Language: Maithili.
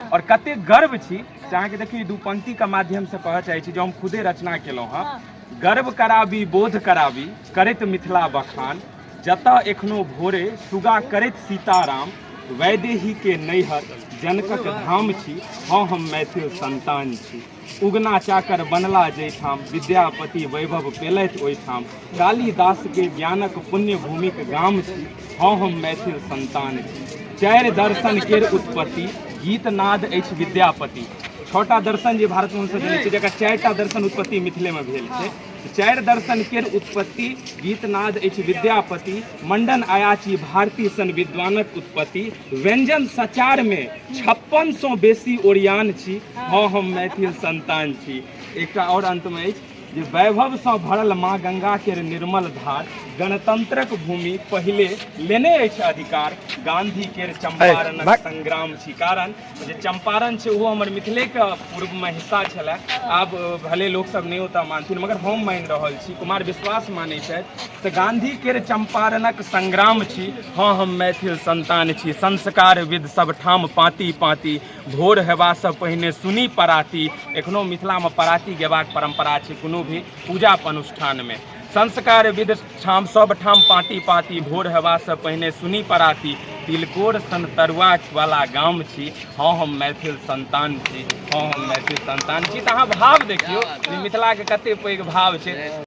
और कते गर्व छी से अहाँके देखियौ दू पंक्ति के माध्यम से कहऽ चाहै छी जो हम खुदे रचना केलहुँ हँ हाँ। गर्व कराबी बोध कराबी करैत मिथिला बखान जतऽ एखनो भोरे सुगा करैत सीताराम वैदेही के नैहर जनकक धाम छी हँ हम मैथिल संतान छी उगना चाकर बनला जैठाम विद्यापति वैभव पेलथि ओहिठाम कालिदासके ज्ञानक पुण्यभूमिक गाम छी हँ हम मैथिल सन्तान छी चारि दर्शन केर उत्पत्ति गीत नाद अछि विद्यापति छओटा दर्शन जे भारतमे हमसभ जनै छियै जकर चारिटा दर्शन उत्पत्ति मिथिलेमे भेल छै चारि दर्शन केर उत्पत्ति गीतनाद अछि विद्यापति मंडन अयाची भारती सन विद्वानक उत्पत्ति व्यंजन सचार मे छप्पन सौ बेसी ओरियान छी हँ हम मैथिल संतान छी एकटा और अंत मे अछि जे वैभव सँ भरल माँ गंगा केर निर्मल धार गणतंत्रक भूमि पहिले लेने अछि अधिकार गांधी केर चंपारणक संग्राम छी कारण जे चम्पारण छै ओहो हमर मिथिलेके पूर्वमे हिस्सा छलए आब भले लोकसभ नहि ओतऽ मानथिन मगर हम मानि रहल छी कुमार विश्वास मानै छथि तऽ गाँधीके चम्पारणक संग्राम छी हँ हम मैथिल संतान छी संस्कार विद सभठाम पाँति पाँति भोर हेबासँ पहिने सुनी पराती एखनो मिथिलामे पराती गेबाक परम्परा छै कोनो भी पूजा अनुष्ठानमे संस्कार विध ठाम सब ठाम पाँति पाँति भोर हेबासँ पहिने सुनी पराती तिलकोर सन तरुआ वाला गाम छी हँ हम मैथिल संतान छी हँ हम मैथिल संतान छी तऽ अहाँ भाव देखियौ जे मिथिलाके कते पैघ भाव छै